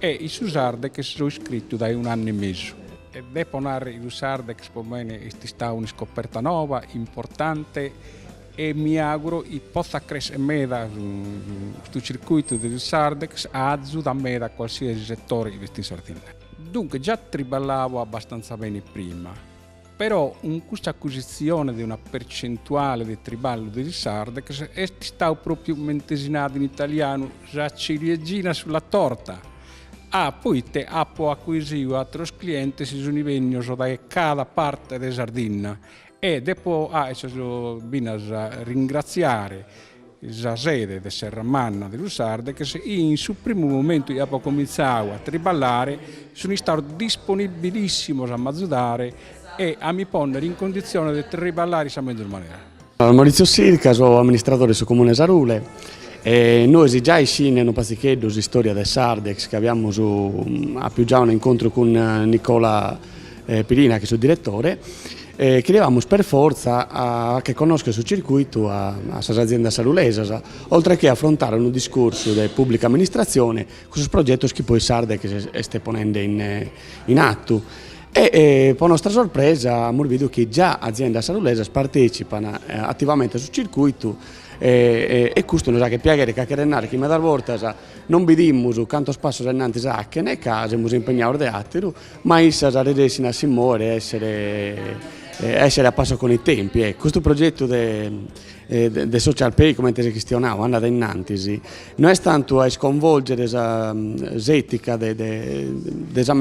in su Sardex so iscritu dae un'annu e mesu. E depo narri chi su Sardex po mene est istau un'iscoperta noba, importante e mi auguro chi potzat crescher meda custu circuitu de su Sardex, a azudare meda a cualsiasi setore chi est in Sardinna. Duncas già triballao abastanza beni prima, Però cun custa acuisitzione de una percentuale de triballu de su Sardex est istau pròpiu mente si narat in italianu sa ciliegina sulla torta, a poite apo acuisiu àteros clientes chi sunt bennius dae cada parte de Sardinna e depo a issos finas ringratziare sa sede de Serramanna de su Sardex, in su primu momentu chi apo comintzau a triballare, sunt istados disponibilìssimos a m'azudare e a mi pònnere in conditziones de triballare in sa mezus manera. Maurizio Sirca, so amministradore de su Comune de Sarule e nois giai iscinde unu patzicheddu s'istòria de Sardex chi aviamus apiu giai un'incontru cun Nicola Pirina chi est su diretore Cheriavamus per fortza achere connoscher su circuitu a sas aziendas sarulesas, oltre che afrontare unu discursu de pùblica amministratzione cun sos progetos chi poi Sardex est ponende in atu. E pro nostra sorpresa amus bidu chi già aziendas sarulesas partètzipan ativamente a su circuitu e custu nos aghet piaghere ca cheret narrer chi medas bortas non bidimus cantos passos ainnantis achene ca semus impegnados de àteru Ma issas resessin a si mòere e èssere a passo con i tempi. Custu progetu de social pay, comente s'est chistionadu, andat innantis, no est tantu a isconvòlgere sa s'ètica de sa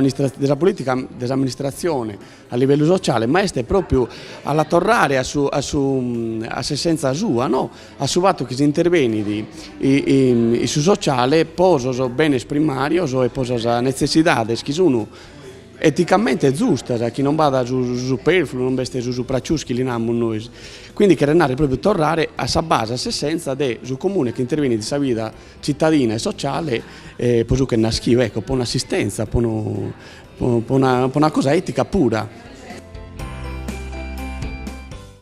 polìtica de s'amministratzione a livellu sociale, ma est pròpiu a la torrare a s'essenza sua, no a su fatu chi s'interbenit in su sociale po sos benes primàrios e po sas netzessidades chi sun eticamente zustas, chi non b'at su supèrfulu, non b'est su suprapiùs chi li namus nois. Quindi cheret narrer pròpriu torrare a sa base, a s'essenza de su comune chi interbenit in sa vida tzitadina e sociale pro su ch'est naschiu, ecco, po un'assistenza, po una cosa etica pura.